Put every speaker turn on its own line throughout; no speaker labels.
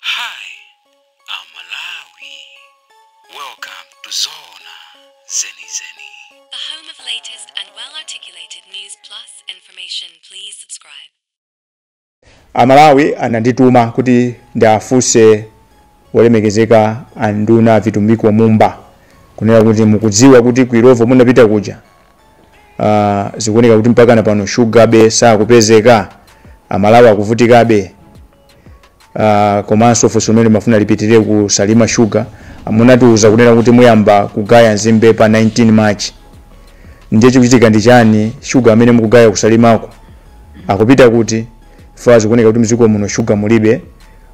Hi, I'm Malawi. Welcome to Zona Zeni Zeni. The home of latest and well articulated news plus information. Please subscribe. amalawi anandituma kuti ndiafunse olemekezeka anduna vitumbiko mumba kunena kuti mukudziwa kuti ku Illovo munapita kuja uh, zikuoneka kuti mpaka pano shugabe sakupezeka amalawi akuvutikabe uh, komanso funso limene limafuna lipitirire ku salima sugar munatiuza kunena kuti muyamba kugaya nzimbe pa 19 march ndiye chikuchitika ndi chani shuga amene mukugaya kusalimako akupita kuti pazikuoneka kuti mdziko muno shuga mulibe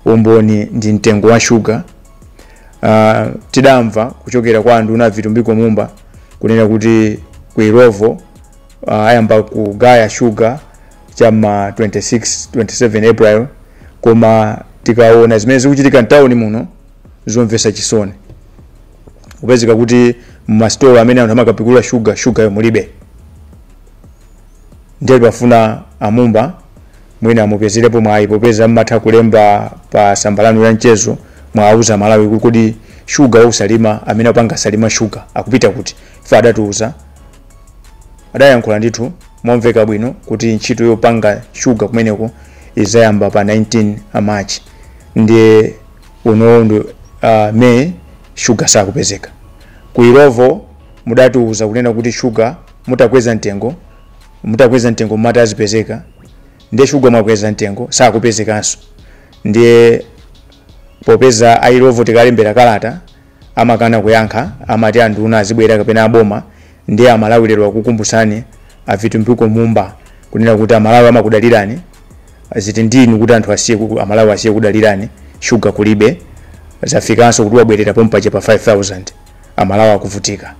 umboni ndi mtengo wa shuga uh, tidamva kuchokera kwa anduna vitumbiko mumba kunena kuti ku Illovo uh, ayamba kugaya shuga cha ma 26 27 april koma tikaona zimene zikuchitika mtawuni muno zomvesa chisoni kupezeka kuti mmasitolo amene anthu amakapikulamo shuga shugayo mulibe ndiye timafuna amumba mwina mupezerepo mwayi popeza mmatha kulemba pa samba lanu la mchezo muwauze amalawi kuti kodi shuga wa ku salima amene akupanga salima shuga akupita kuti ife adatiuza adayankhula ndithu momveka bwino kuti ntchito yopanga shuga kumeneko izayamba pa 19 march ndiye unowu ndi uh, may shuga sakupezeka ku Illovo mudatiuza kunena kuti shuga mutakweza mtengo mutakweza mtengo mumati azipezeka ndiye shuga mwakweza mtengo sakupezekanso ndiye popeza a Illovo tikalembera kalata amakana kuyankha amati anduna azibwera kapena aboma ndiye amalawi lero akukumbutsani avitumbiko mumba kunena kuti amalawi amakudalirani zili ndi inu kuti anthu asiye ku- amalawi asiye kukudalirani shuga kulibe zafikanso kuti wabwerera pompache pa 5000 amalawi akuvutika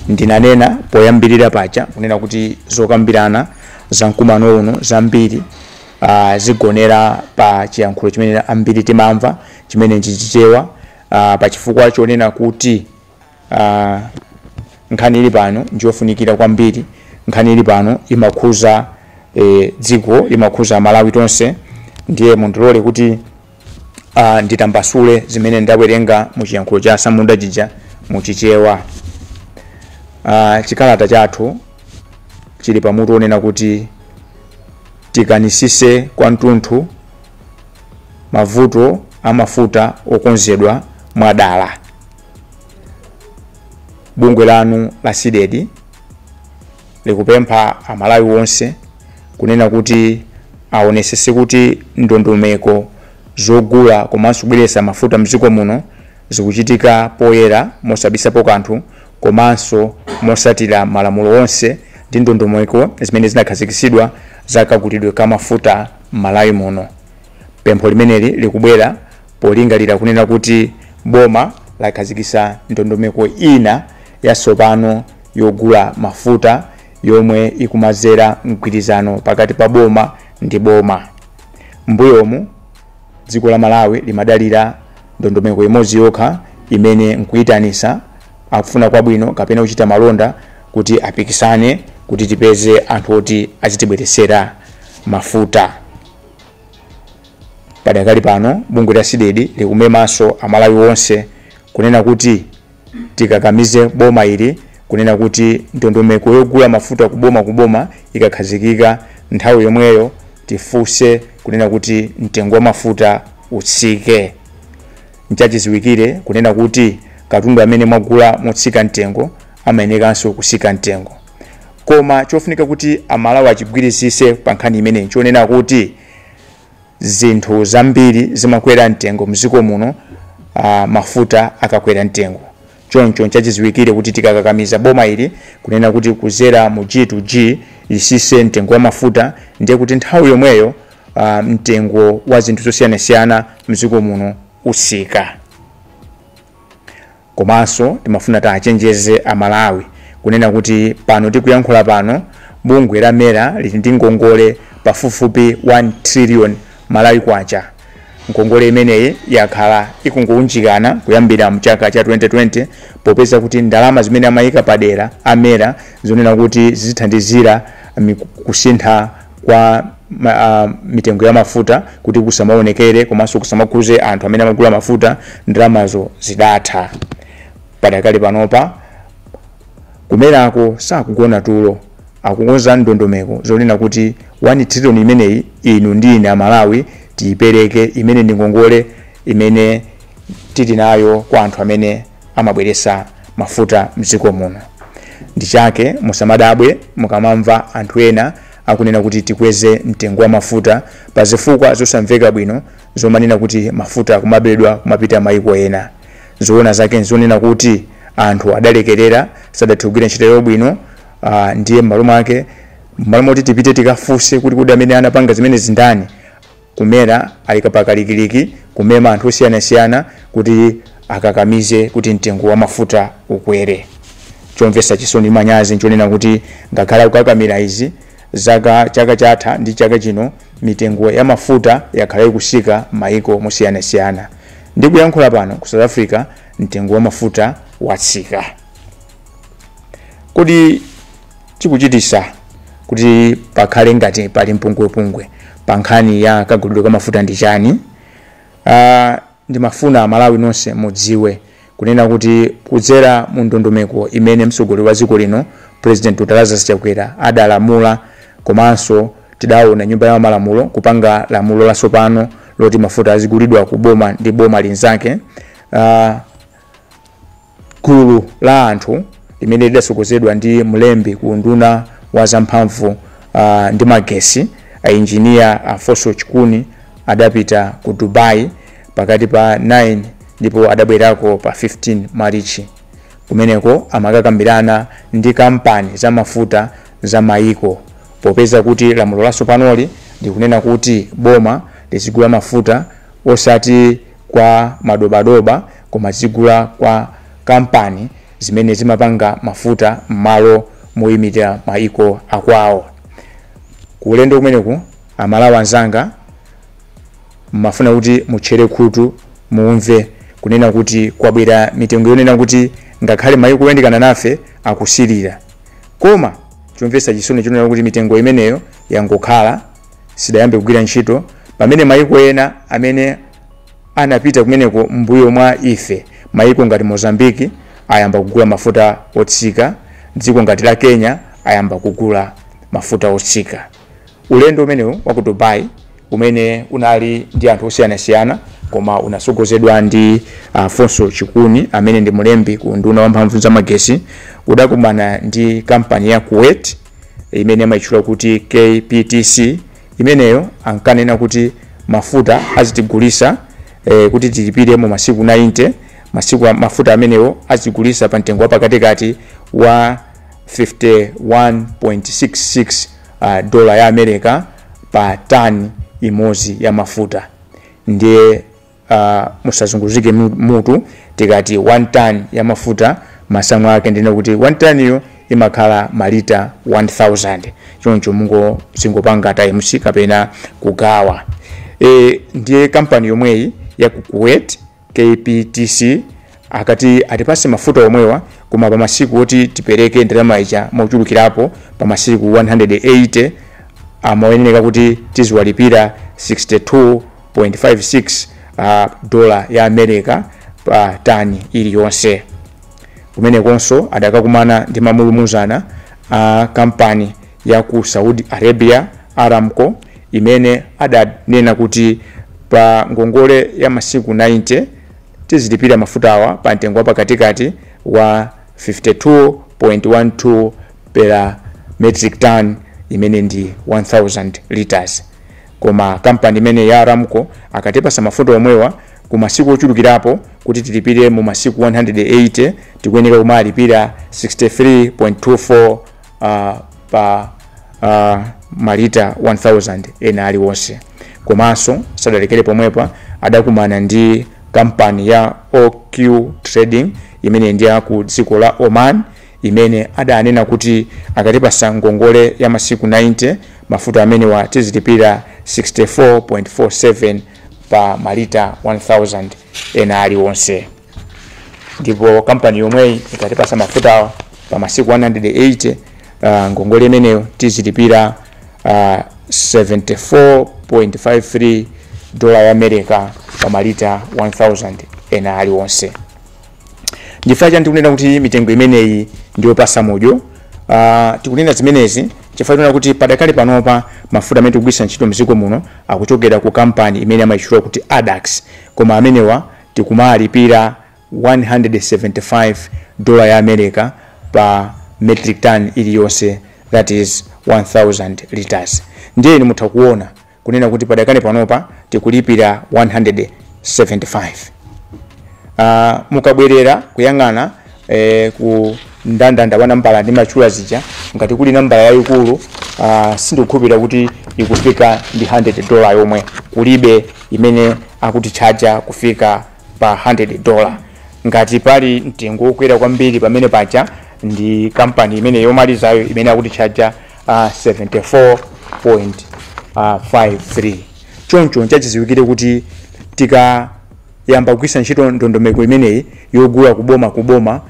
ndinanena poyambirira paja kunena kuti zokambirana za mkumano uno zambiri zigonera pa chiyankhulo chimene ambiri timamva chimene ndi Chichewa ah, pa chifukwa chonena kuti ah, nkhani ili pano ndiyofunikira kwambiri nkhani ili pano imakhuza eh, dziko imakhuza malawi tonse ndiye mundilole kuti Uh, nditambasule zimene ndakuwerengani mu chiyankhulo cha samunda chija mu chichewa uh, chikalata chathu chili pamutu onena kuti tikanitsitse kwa mtu wa galu mavuto amafuta okonzedwa mwadala bungwe lanu la CDEDI likupempha Amalawi onse kunena kuti aonesese kuti ndondomeko zogula komanso kubweretsa mafuta mdziko muno zikuchitika poyera mosabisapo kanthu komanso mosatira malamulo onse ndi ndondomeko zimene zinakhazikitsidwa za kagulidwe ka mafuta m'Malawi muno. Pempho limeneli likubwera polingalira kunena kuti boma lakhazikitsa ndondomeko ina yatsopano yogula mafuta yomwe ikumadzera mgwirizano pakati pa boma ndi boma mbuyomu dziko la malawi limadalira ndondomeko imodzi yokha imene nkuyitanisa akufuna kwabwino kapena kuchita malonda kuti apikisane kuti tipeze anthu oti azitibweresera mafuta padakali pano bungwe la CDEDI likumemanso amalawi onse kunena kuti tikakamize boma ili kunena kuti ndondomeko yogula mafuta kuboma kuboma ikakhazikika nthawi yomweyo tifunse kunena kuti mtengo wa mafuta utsike nchachiziwikire kunena kuti katundu amene mwagula motsika mtengo amayenekanso kusika mtengo koma chofunika kuti amalawi achigwirizise pa nkhani imeneyi nchonena kuti zinthu zambiri zimakwera mtengo mziko muno uh, mafuta akakwera mtengo choncho nchachiziwikire kuti tikakakamiza boma ili kunena kuti kuzera mu g to g lisise mtengo wa mafuta ndiye kuti nthawi yomweyo uh, mtengo wa zinthu zosiyanasiyana mziko muno usika Komanso timafuna tiachenjeze aMalawi kunena kuti pano tikuyankhula pano bungwe la mera lili ndi ngongole pafupifupi 1 trillion Malawi kwacha. Ngongole imeneyi yakhala ikungounjikana kuyambira mchaka cha 2020 popeza kuti ndalama zimene amaika padera a mera zonena kuti zizithandizira kusintha kwa ma, ah, mitengo ya mafuta kuti kusamaonekere komanso kusamakhuze anthu amene amagula mafuta ndalamazo zidatha padakali panopa kumerako sakugona tulo akukonza ndondomeko zonena kuti 1 trillion imeneyi inu ndi ine amalawi tiyipereke imene ndi ngongole imene tili nayo kwa anthu amene amabweresa mafuta mdziko muno ndi chake musamadabwe mukamamva anthu ena akunena kuti tikweze mtengo wa mafuta pa zifukwa zosamveka bwino zomanena kuti mafuta akumabedwa kumapita mayiko ena zoona zake nzonena kuti anthu adalekerera sadathe kugwira ntchito yawo bwino ah, ndiye m'malo mwake m'malo moti tipite tikafunse kuti kodi amene anapanga zimenezi ndani Kumera ali pa kalikiliki kumema anthu osiyanasiyana kuti akakamize kuti mtengo wa mafuta ukwere. Chomvetsa chisoni ndi manyazi nchonena kuti ngakhale akukakamira izi chaka chatha ndi chaka chino mitengo ya mafuta yakhala ikutsika mmaiko osiyanasiyana. Ndikuyankhula pano ku South Africa mtengo wa mafuta watsika. kodi chikuchitisa kuti pakhale ngati pali mpungwepungwe pa nkhani ya kagulidwe ka mafuta ndi chiyani uh, ndimafuna amalawi nonse mudziwe kunena kuti kudzera mu ndondomeko imene mtsogoleri wa dziko lino president dr lazarus chakwera adalamula komanso tidaona nyumba ya malamulo kupanga lamulo latsopano loti mafuta azigulidwa ku boma ndi boma linzake uh, Gulu la anthu limene lidatsogozedwa ndi mlembi ku unduna wa za mphamvu uh, ndi magesi a injiniya Alfonso Chikuni adapita ku Dubai pakati pa 9 ndipo adabwerako pa 15 Marichi. Kumeneko amakakambirana ndi kampani za mafuta za maiko popeza kuti lamulo latsopanoli likunena kuti boma lizigula mafuta osati kwa madobadoba koma zigula kwa kampani zimene zimapanga mafuta mmalo moyimitira maiko akwawo. Ku ulendo umenewu amalawi anzanga ndimafuna kuti mutchere khutu mumve kunena kuti kwabwera mitengo yonena kuti ngakhale maiko oyandikana nafe akusilira koma chomvetsa chisoni nchonena kuti mitengo imeneyo yangokhala sidayambe kugwira ntchito pamene maiko ena amene anapita kumeneko mbuyo mwa ife maiko ngati mozambiki ayamba kugula mafuta otsika dziko ngati la kenya ayamba kugula mafuta otsika ulendo umenewu wa ku dubai umene unali ndi anthu osiyanasiyana koma unatsogozedwa ndi Alfonso chikuni amene ndi mlembi ku unduna wa mphamvu za magesi udakumana ndi kampani ya kuwait imene amaitchula kuti KPTC imeneyo ankanena kuti mafuta azitigulisa e, eh, kuti tilipire mu masiku 90 mafuta amenewo azitigulisa pa mtengo wapakatikati wa 51.66 uh, ah, dola ya America pa tani imodzi ya mafuta ndiye Uh, musazunguzike mutu tikati 1 ton ya mafuta masamu ake ndi onena kuti 1 ton iyo imakhala malita 1000 choncho muzingopanga times kapena kugawa e, ndiye kampani yomweyi ya ku Kuwait KPTC Akati atipatse mafuta omwewa koma pa masiku oti tipereke ndalama ija mochulukirapo pa masiku 180 amayeneka kuti tiziwalipira 62.56 uh, dola ya America pa tani iliyonse. Kumenekonso adakakumana ndi mamulumuzana a kampani ya ku Saudi Arabia Aramco imene adanena kuti pa ngongole ya masiku 90 Tizilipira mafutawa pa mtengo wa pakatikati wa 52.12 per metric ton imene ndi 1000 litres. Koma kampani imene ya Aramco akatipasa mafuta omwewa ku masiku ochulukirapo kuti tilipire mu masiku 180, tikuyeneka kumalipira 63.24. uh, pa uh, malita 1000 ena alionse komanso sadalekere pomwepa adakumana ndi kampani ya oq trading imene ndi ya ku dziko la oman imene adanena kuti akatipasa ngongole ya masiku 90 mafuta amenewa tizilipira 64.47 pa malita 1000 ena alionse ndipo kampani yomweyi ikatipasa mafutawa pa masiku 180 uh, ngongole imeneyo tizilipira uh, 74.53 dola ya america pa malita 1000 ena aliwonse nchifukwa chani tikunena kuti mitengo imeneyi ndiyopasa mudyo uh, tikunena zimenezi chifukwa tikunena kuti padakali panopa mafuta amene tikugwiritsa ntchito mdziko muno akuchokera ku kampani imene amayitchula kuti Addax koma amenewa Tikumalipira 175 dollar ya America pa metric ton iliyonse that is 1000 litres. Ndiye inu mutha kuona kunena kuti padakali panopa tikulipira 175. Uh, mukabwerera kuyang'ana eh, ku ndandanda wa nambala ndimatchula zija ngati kuli nambala yayikulu uh, sindikukhulupirira kuti ikufika ndi 100 dola yomwe kulibe imene akutitchaja kufika pa 100 dola ngati pali mtengo wokwera kwambiri pamene paja ndi kampani imene yomalizayo imene akutitchaja uh, 74.53 choncho nchachiziwikire kuti tika yamba kugwiritsa ntchito ndondomeko imeneyi yogula ku boma ku boma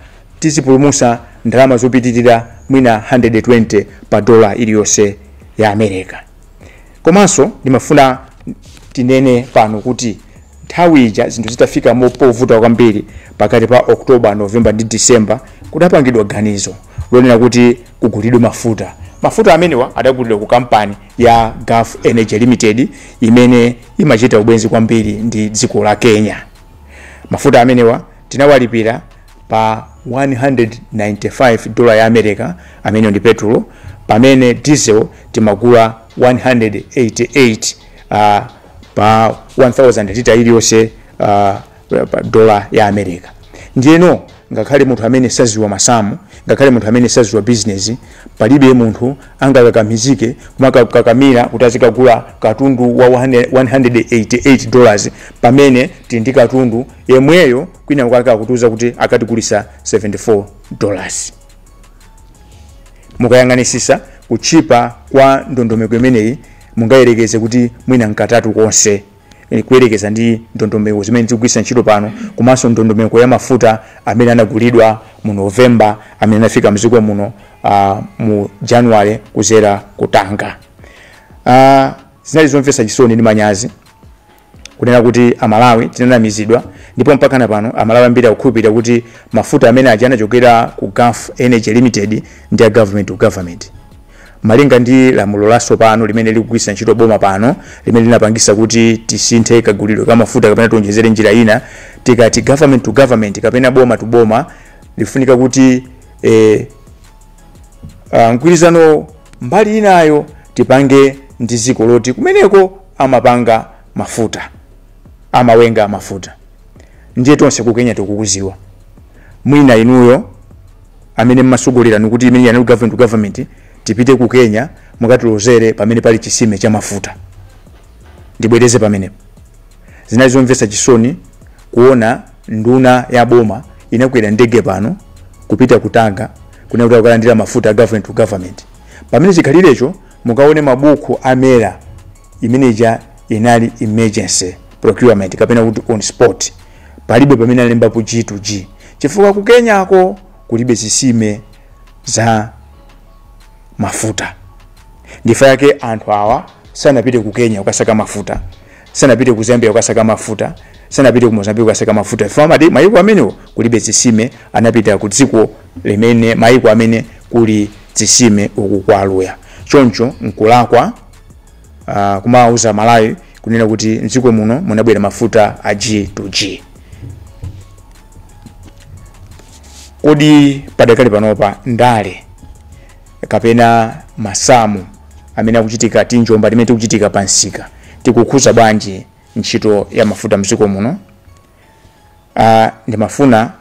tizipulumusa ndalama zopitilira mwina 120 pa dola iliyonse ya America. Komanso ndimafuna tinene pano kuti nthawi ija zinthu zitafika mopovuta kwambiri pakati pa October, November ndi December kudapangidwa ganizo lonena kuti kugulidwe mafuta. Mafuta amenewa adagulidwa ku kampani ya Gulf Energy Limited imene imachita ubwenzi kwambiri ndi dziko la kenya mafuta amenewa tinawalipira pa 195 dola ya america ameneyo ndi petulo pamene diesel timagula 188 uh, pa 1000 lita iliyonse uh, pa- pa dola ya america ndiyeno ngakhale munthu amene saziwa masamu ngakhale munthu amene saziwa bizinesi palibe munthu angakakamizike kumakakamira kuti azikagula katundu wa 100 188 dollars pamene tili ndi katundu yemweyo kwina kwake akutiuza kuti akatigulisa 74 dollars mukayang'anisisa kutchipa kwa ndondomeko imeneyi mungayerekeze kuti mwina mkatatu konse eh, kuyerekeza ndi ndondomeko zimene zikugwiritsa ntchito pano komanso ndondomeko ya mafuta amene anagulidwa mu novembala amene anafika mdziko muno uh, mu january kuzera ku tanga uh, zinali zomvetsa chisoni ndi manyazi kunena kuti amalawi tinanamizidwa ndipo mpaka na pano amalawi ambiri akukhulupirira kuti mafuta amene aja anachokera ku gulf energy limited ndi a government to government Malinga ndi lamulo latsopano limene likugwiritsa ntchito boma pano, limene linapangitsa kuti tisinthe kagulidwe ka mafuta kapena tionjezere njira ina, tikati government to government kapena boma to boma, lifunika kuti eh, ah, mgwirizanowo mbali inayo tipange ndi dziko loti kumeneko amapanga mafuta, amawenga mafuta. ndiye tonse ku kenya tikukuziwa mwina inuyo amene mmasogolera nikuti imene yanali government to government tipite ku kenya mukatilozere pamene pali chisime cha mafuta ndibwereze pamenepo zinali zomvetsa chisoni kuona nduna ya boma inakwera ndege pano kupita ku tanga kunena kuti kukalandira mafuta a government to government pamene chikhalirecho mukaone mabuku a mera imene ija inali emergency procurement kapena kuti on spot palibe pamene alembapo g to g chifukwa ku kenyako kulibe zisime za mafuta ndichifukwa chake anthu awa sanapite ku kenya kukasaka mafuta sanapite ku zambia kukasaka mafuta sanapite ku mozambique kukasaka mafuta chifukwa mmayiko amenewo kulibe zisime anapita ku dziko limene mayiko amene kuli zisime uku kwa aluya choncho nkulakwa uh, kumawauza amalawi kunena kuti mdziko muno munabwera mafuta a g to g kodi padakali panopa ndale kapena masamu amene akuchitika tinjomba timene tikuchitika pa msika tikukhuza bwanji ntchito ya mafuta mdziko muno uh, ndimafuna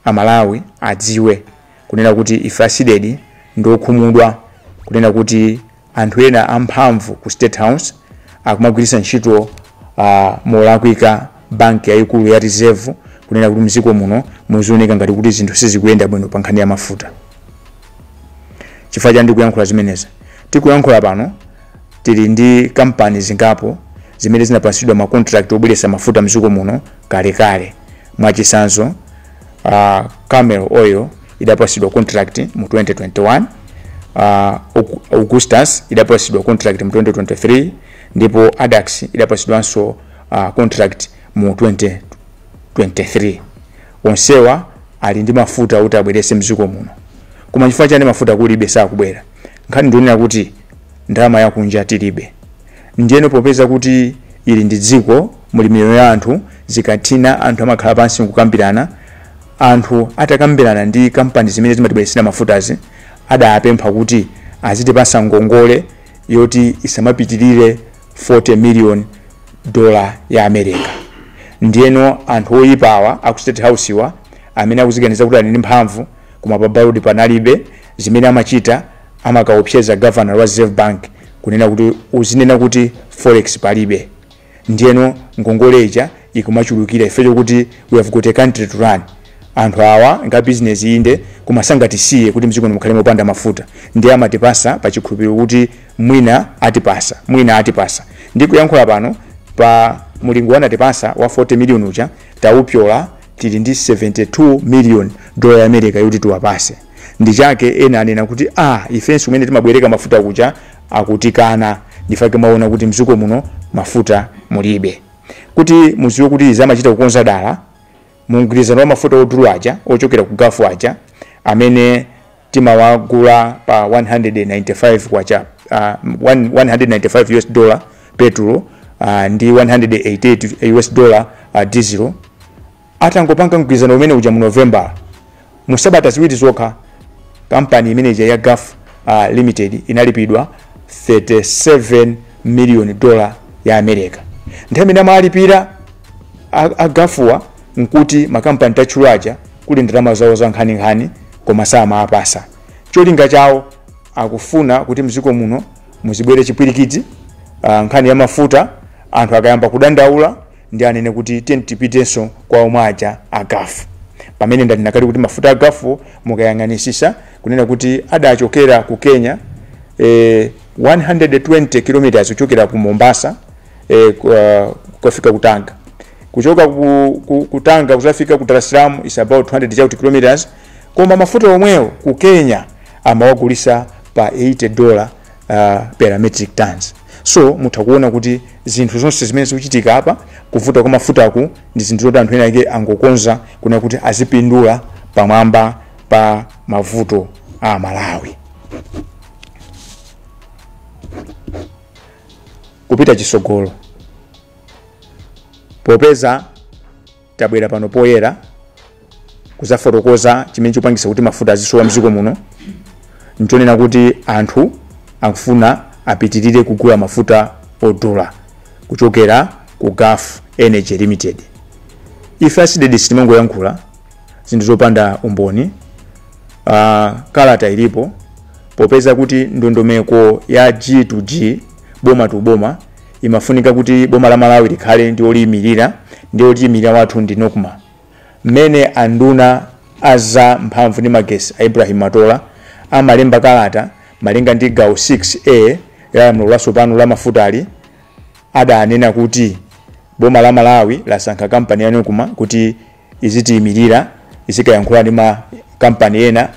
amalawi adziwe kunena kuti ife a cdedi ndi okhumudwa kunena kuti anthu ena amphamvu ku state house akumagwiritsa ntchito uh, molakwika banki yayikulu ya reserve kunena kuti mdziko muno muzioneka ngati kuti zinthu sizikuyenda bwino pa nkhani ya mafuta chifukwa chani ndikuyankhula zimenezi tikuyankhula pano tili ndi kampani zingapo zimene zinapasidwa makontrakt obweretsa mafuta mdziko muno kalekale mwachisanzo uh, camel oil idapasidwa contract mu 2021 uh, Au- augustus idapasidwa contract mu 2023 ndipo adax idapasidwanso uh, contract mu 2023 onsewa ali ndi mafuta kuti abwerese mdziko muno koma chifukwa chani mafuta kulibe sakubwera nkhani ndi yonena kuti ndalama yakunja tilibe Ndiyeno popeza kuti ili ndi dziko, muli miyoyo ya anthu, zikafika anthu amakhala pansi n'kukambirana. Anthu atakambirana ndi kampani zimene zimatibweretsera mafutazi, adapempha kuti azitipatsa ngongole yoti isamapitirire 40 miliyoni dola ya America. Ndiyeno anthu oipa awa a ku State House-wa, amene akudziganiza kuti ali ndi mphamvu, koma pa baloti panalibe, zimene amachita amakaopseza governor wa reserve bank kunena kuti uzinena kuti forex palibe ndiyeno ngongole ija ikumachulukira chifukwa chokuti we have got a country to run anthu awa ndi a business inde koma sangatisiye kuti mdziko mukhale mopanda mafuta ndiye amatipasa pa chikhulupiriro kuti mwina atipasa mwina atipasa ndikuyankhula pano pa mulingo anatipasa wa 40 million uja taupyola tili ndi 72 million dola ya america yoti tiwapase n'chifukwa chake ena anena kuti ah ifenso kumene timabwereka mafuta kuja akutikana n'chifukwa chake mwaona kuti mdziko muno mafuta mulibe kuti muziwe kuti izi amachita kukonza dala mu mgwirizano wa mafuta odula aja ochokera ku gafu aja amene timawagula pa 195 kwacha uh, 195 us dollar petrol uh, ndi 188 us dollar uh, diesel Atangopanga mgwirizano umene uja mu November, mu sabata ziwiri zokha kampani imene ija ya Gulf uh, Limited inalipidwa 37 million dollar ya America. Nthawi imene amalipira agafuwa nkuti makampani tatchula aja ali ndi ndalama zawo za nkhaninkhani koma samawapasa. Cholinga chawo akufuna kuti mziko muno muzibwere chipwirikiti uh, nkhani ya mafuta anthu akayamba kudandaula ndi anene kuti tiyeni tipitenso kwa omwe aja a gulf pamene ndanena kale kuti mafuta a gulf-wo mukayang'anisisa kunena kuti adachokera ku kenya eh, 120 kilometers kuchokera ku mombasa eh, ku- ah, kukafika ku tanga kuchoka ku, ku, ku tanga kuzafika ku dar es salaam is about 200 chauti kilometers koma mafuta omwewo ku kenya amawagulisa pa 80 dollar uh, per metric tons so mutha kuona kuti zinthu zonse zimene zikuchitika apa kuvuta kwa mafutaku ndi zinthu zoti anthu ena ake angokonza kunena kuti azipindula pamwamba pa mavuto a amalawi kupita chisogolo popeza Tabwera pano poyera kuzafotokoza chimene chikupangisa kuti mafuta azisowa mziko muno nchonena kuti anthu akufuna apitilire kugula mafuta odula kuchokera ku Gulf Energy Limited. Ife a CDEDI sitimangoyankhula zinthu zopanda umboni. Uh, kalata ilipo popeza kuti ndondomeko ya G to G boma to boma imafunika kuti boma la malawi likhale ndi oliyimirira ndiye otiyimirira wathu ndi nocma mmene anduna a za mphamvu ndi magesi a ibrahim matola amalemba kalata malinga ndi gawo 6a la lamulo latsopano la mafutali adanena kuti boma la malawi lasankha kampani ya nocma kuti izitiimirira izikayankhula ndi ma kampani ena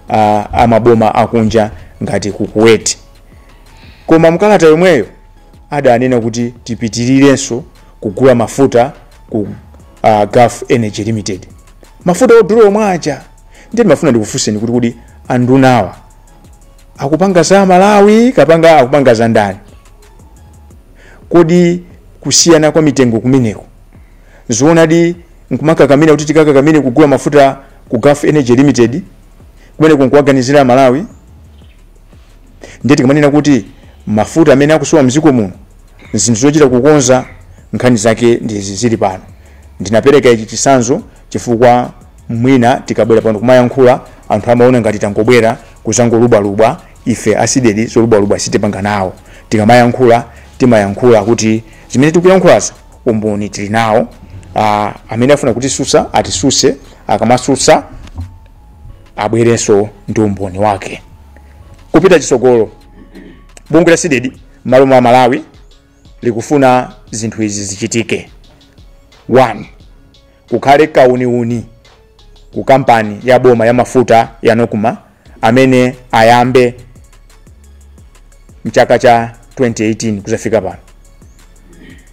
a, a maboma akunja ngati ku kuwait koma mkalata yomweyo adanena kuti tipitirirenso kugula mafuta ku uh, gulf energy limited mafuta odula omwe aja ndiye ndimafuna ndikufunseni kuti kodi andunawa akupanga za malawi kapena akupanga za ndani kodi kusiyana kwa mitengo kumeneko zoonadi nkumakakamira kuti tikakakamire kugula mafuta ku gulf energy limited kumeneku nkuwaganizira amalawi ndiye tikamanena kuti mafuta amene akusowa mdziko muno zinthu zochita kukonza nkhani zake ndi izi zili pano ndinapereka ichi chisanzo chifukwa mwina tikabwera pano kumayankhula anthu amaona ngati tangobwera kuzangolubwalubwa ife a cdedi zolubwalubwa sitipanga nawo tikamayankhula timayankhula kuti zimene tikuyankhulazo umboni tili nawo ah, amene afuna kutisusa atisuse akamasusa abwerenso ndi umboni wake kupita chisogolo bungwe la cdedi m'malo mwa amalawi likufuna zinthu izi zichitike 1 Kukhale kauniuni ku kampani ya boma ya mafuta ya Nocma amene ayambe chaka cha 2018 kuzafika pano.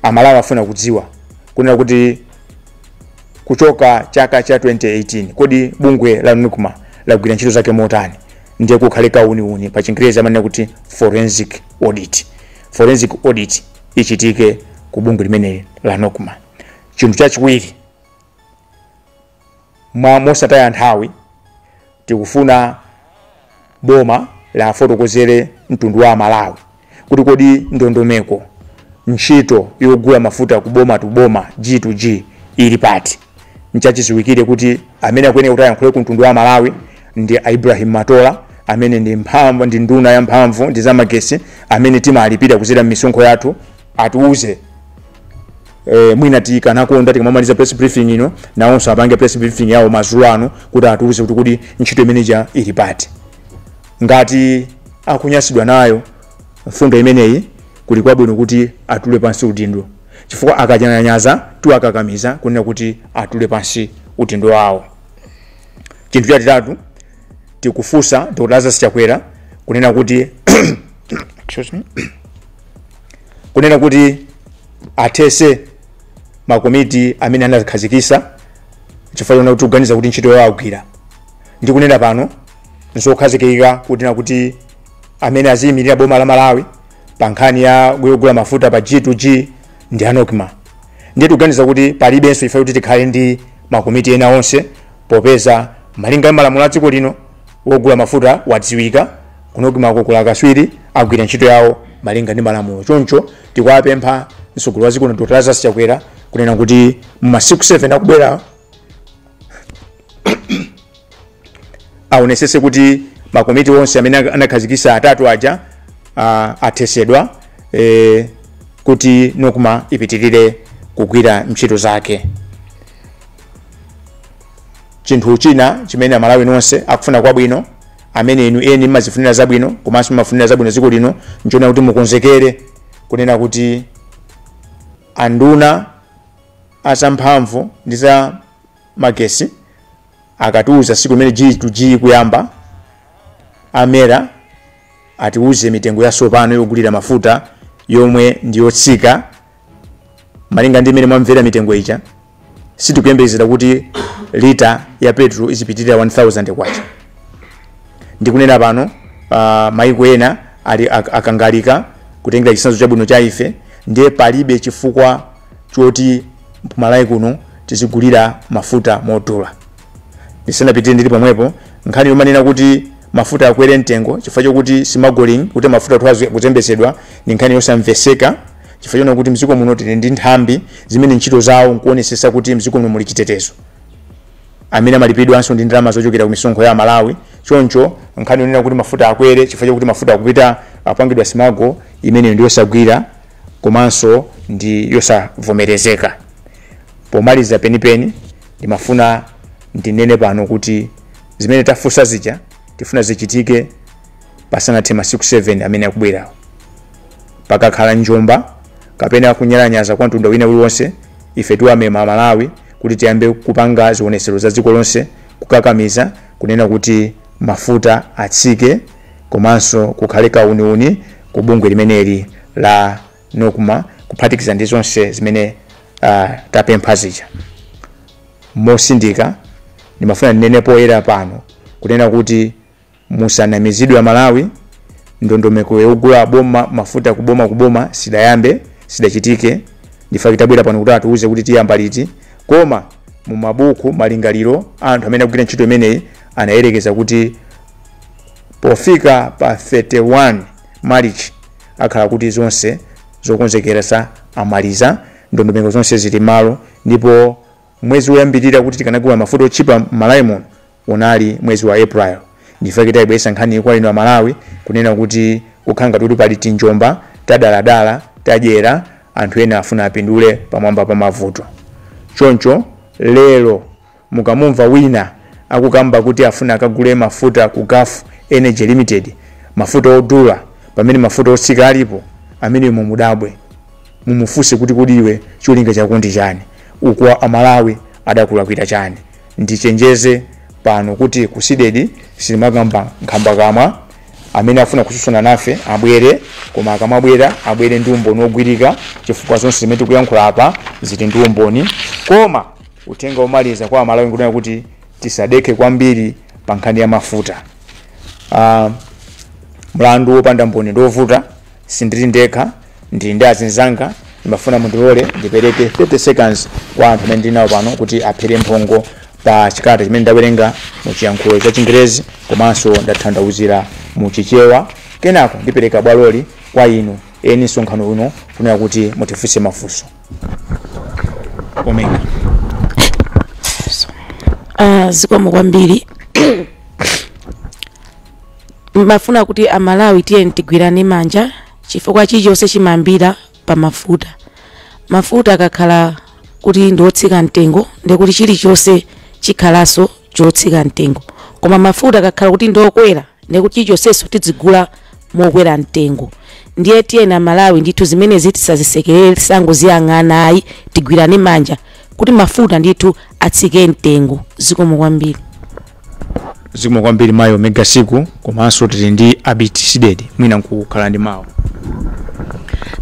Amalawi afuna kudziwa kunena kuti kuchoka chaka cha 2018 kodi bungwe la Nocma lagwira ntchito zake motani? Ndiye kukhale kauniuni pa chingerezi amanena kuti forensic audit. Forensic audit ichitike ku bungwe limeneli la Nocma. chinthu chachiwiri mwa mosataya nthawi tikufuna boma lafotokozere mtundu wa amalawi kuti kodi ndondomeko ntchito yogula mafuta ku government to government g to g ili pati nchachiziwikire kuti amene akuyenera kuti ayankhule ku mtundu wa malawi ndi a ibrahim matola amene ndi nduna ya mphamvu ndi zamagesi amene timalipira kuzera m'misonkho yathu atiuze eh, mwina tikanakonda tikamamaliza press briefing ino nawonso apange press briefing yawo madzulo ano kuti atiuze kuti kodi ntchito imeneja ili pati ngati akunyasidwa nayo mfundo imeneyi kuli kwabwino kuti atule pansi udindo chifukwa akanyalanyaza tiwakakamiza kunena kuti atule pansi udindo wawo chinthu chachitatu tikufunsa dr lazarus chakwera kunena kuti excuse me kunena kuti athese makomiti amene anakhazikisa chifukwa chonena kuti tikuganiza kuti ntchito yawo agwira ndi kunena pano nzokhazikika kuti nakuti amene aziyimirira boma la malawi pa nkhani ya yogula mafuta pa g2g ndi a nocma ndiye tikuganiza kuti palibenso chifukwa kuti tikhale ndi makomiti ena onse popeza malinga ndi malamulo a dziko lino wogula mafuta wadziwika ku nocmako kuli akaswiri agwira ntchito yawo malinga ndi malamulo choncho tikuwapempha mtsogoleri wa dziko lino dr lazarus chakwera kunena kuti mu masiku 7 akubwerawo aonesese kuti makomiti onse amene anakhazikisa atatu aja ah, athesedwa eh, kuti nocma ipitirire kugwira ntchito zake chinthu china chimene amalawi nonse akufuna kwabwino amene inu eni mmazifunira zabwino komanso mmafunira zabwino dziko lino nchonena kuti mukonzekere kunena kuti anduna azamphamvu ndi za magesi akatiuza siku imene g to g ikuyamba amvere atiuze mitengo yasopano yogulira mafuta yomwe ndiyotsika malinga ndi imene mwamvera mitengo ija sitikuyembekezera kuti lita ya petro izipitirira 1000 kwacha ndikunena pano uh, maiko ena ali ak- akangalika kutengera chitsanzo chabwino cha ife ndiye palibe chifukwa choti kumalawi kuno tizigulira mafuta modula ndisanapitire ndili pomwepo nkhani yomanena kuti mafuta akwere mtengo chifukwa chokuti simagoling'i kuti mafuta athu akuzembetsedwa ndi nkhani yosamveseka chifukwa chonena kuti mdziko muno tili ndi nthambi zimene ntchito zawo nkuonesesa kuti mdziko muno muli chitetezo amene amalipidwanso ndi ndalama zochokera ku misonkho ya amalawi choncho nkhani yonena kuti mafuta akwere chifukwa chakuti mafuta akupita apangidwa simagolo imeneyo ndi yosagwira komanso ndi yosavomerezeka pomaliza penipeni ndimafuna ndinene pano kuti zimene tafunsa zija tifuna zichitike pasanathe masiku 7 amene akubwerawa pakakhala njomba kapena kunyalanyaza kwa mtundu wina uliwonse ife tiwamema amalawi kuti tiyambe kupanga zionetsero za dziko lonse kukakamiza kunena kuti mafuta atsike komanso kukhale kauniuni ku bungwe limeneli la nocma kuphatikiza ndi zonse zimene uh, tapempha zija mosindika ndimafuna ndinene poyera pano kunena kuti Musanamizidwe amalawi, ndondomeko yogula a boma mafuta kuboma kuboma sidayambe, sidachitike ndife tabwera pano kuti atiuze kuti tiyamba liti. Koma mumabuku malingaliro a anthu amene akugwira ntchito imeneyi anayerekeza kuti pofika pa 31 Marichi akhala kuti zonse zokonzekeresa amaliza, ndondomeko zonse zili mmalo ndipo mwezi woyambirira kuti tikanagula mafuta otchipa mmalawi muno Unali mwezi wa April ndichifukwa chake taibweretsa nkhaniyi kwa inu a Malawi kunena kuti kukhala ngati kuti pali tinjomba tadaladala tadyera anthu ena afuna apindule pamwamba pa mavuto. Choncho lero mukamumva wina akukamba kuti afuna akagule mafuta ku Gulf Energy Limited, mafuta odula pamene mafuta otsika alipo, ameneyo mumudabwe. Mumufunse kuti kodi iwe cholinga chako ndi chani? Uku a Malawi adakulakwira chani? ndichenjeze pano kuti ku cdedi sitimakamba nkhambakamwa amene afuna kutsutsana nafe abwere koma akamabwera abwere ndi umboni wogwirika chifukwa zonse zimene tikuyankhula apa zili ndi umboni koma uthenga womaliza kwa amalawi nkunena kuti tisadekhe kwambiri pa nkhani ya mafuta uh, mlandu wopanda mboni ndi wovuta Sindili ndekha, ndili ndi azinzanga. Ndimafuna mundilole ndipereke 30 seconds kwa anthu amene ndili nawo pano kuti aphere mphongo pa chikalata chimene ndawerenga mu chiyankhulo cha Chingerezi komanso ndatanthauzira mu Chichewa. Kenako ndipereka bwaloli kwa inu eni msonkhano uno kunena kuti mutifunse mafunso. Omega. Ah, zikomo kwambiri timafuna kuti amalawi tiyeni tigwirane manja chifukwa chilichonse chimayambira pa mafuta mafuta akakhala kuti ndi otsika mtengo ndi kuti chilichonse chikhalanso chotsika mtengo koma mafuta akakhala kuti ndi okwera ndi kuti chilichonsenso tidzigula mokwera mtengo ndiye tiyeni amalawi ndithu zimenezi tisazisekerere tisangoziyang'ana ayi tigwirane manja kuti mafuta ndithu atsike mtengo zikomo kwambiri zikomo kwambiri mayi omega siku komanso tili ndi abiti sidedi mwina nkukhala ndi mawu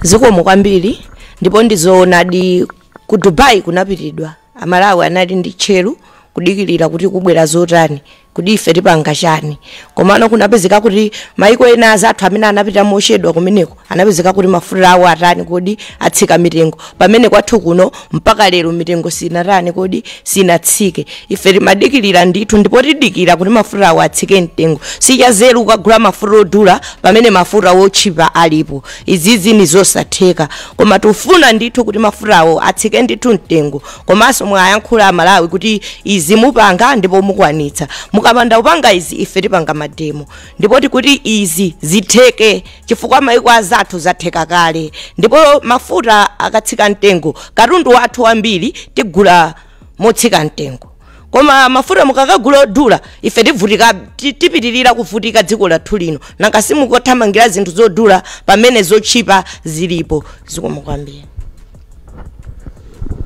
zikomo kwambiri ndipo ndizoonadi ku dubai kunapitidwa amalawi anali ndi tcheru kudikirira kuti kubwera zotani kuti ife tipanga chani komano kunapezeka kuti maiko ena azathu amene anapita mochedwa kumeneko anapezeka kuti mafuta awo atani kodi atsika mitengo pamene kwathu kuno mpaka lero mitengo sinatani kodi sinatsike ife timadikirira ndithu ndipo tidikira kuti mafuta awo atsike mtengo sichanzeru kukagula mafuta odula pamene mafuta otchipa alipo izizi ni zosatheka koma tifuna ndithu kuti mafuta awo atsike ndithu mtengo komanso mwayankhula amalawi kuti izi mupanga ndipo mukwanitsa mukapanda kupanga izi ife tipanga mademo ndipo tikuti izi zitheke chifukwa maiko azathu zatheka kale ndipo mafuta akatsika mtengo katundu wathu wambiri tigula motsika mtengo koma mafuta mukakagula odula ife tivutika ti- tipitirira kuvutika dziko lathu lino nanga si mukuthamangira zinthu zodula pamene zotchipa zilipo zikomo kwambiri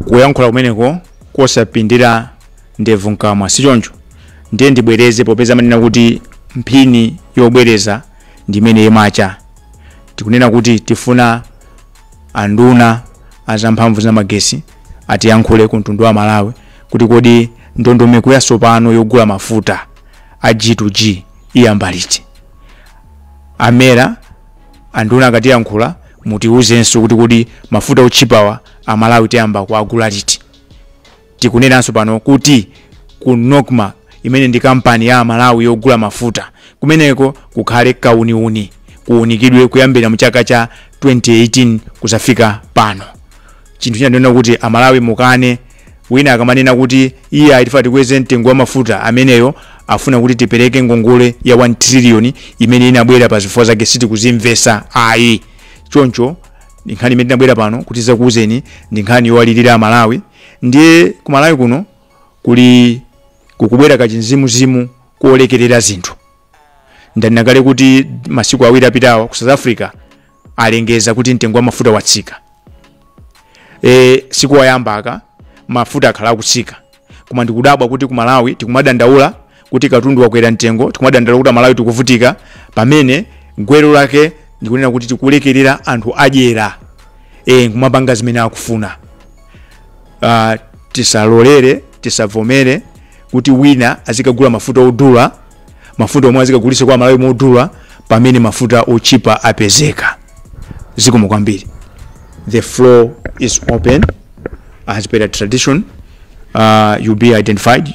kuyankhula kumeneko kosapindira ndevu mkamwa sichoncho ndiye ndibwereze popeza amanena kuti mphini yobwereza ndi imene imawala tikunena kuti tifuna anduna azamphamvu ndi magesi atiyankhule ku mtundu wa malawi kuti kodi ndondomeko yatsopano yogula mafuta a g2g iyamba liti amera anduna akatiyankhula mutiwuzenso kuti kodi mafuta otchipawa amalawi tiyamba kuagula liti Tikunenanso pano kuti ku Nocma, imene ndi kampani ya Amalawi yogula mafuta, kumeneko kukhale kauniuni, kuunikidwe kuyambira mu chaka cha 2018 kuzafika pano. Chinthu china ndi chonena kuti Amalawi mukane, wina akamanena kuti iyayi tifuna tikweze mtengo wa mafuta, ameneyo afuna kuti tipereke ngongole ya 1 trillion imene inabwera pa zifukwa zake sitikuzimvetsa ayi. Choncho ndi nkhani imene tinabwera pano kuti tizakuuzeni, ndi nkhani yowalilira Amalawi. ndiye ku malawi kuno kuli kukubwera kachimzimuzimu kolekerera zinthu ndanena kale kuti masiku awiri apitawa ku south africa alengeza kuti mtengo wa mafuta watsika e, sikoyamba aka mafuta akhala akutsika koma ndikudabwa kuti ku malawi tikumadandaula kuti katundu wakwera mtengo tikumadandaula kuti amalawi tikuvutika pamene gwero lake ndikunena kuti tikulekerera anthu adyera e, kumapanga zimene akufuna uh, tisalolere tisavomere kuti wina azikagula mafuta odula mafuta omwe azikagulisa kwa amalawi modula pamene mafuta otchipa apezeka zikomo kwambiri the floor is open as per the tradition uh, you'll be identified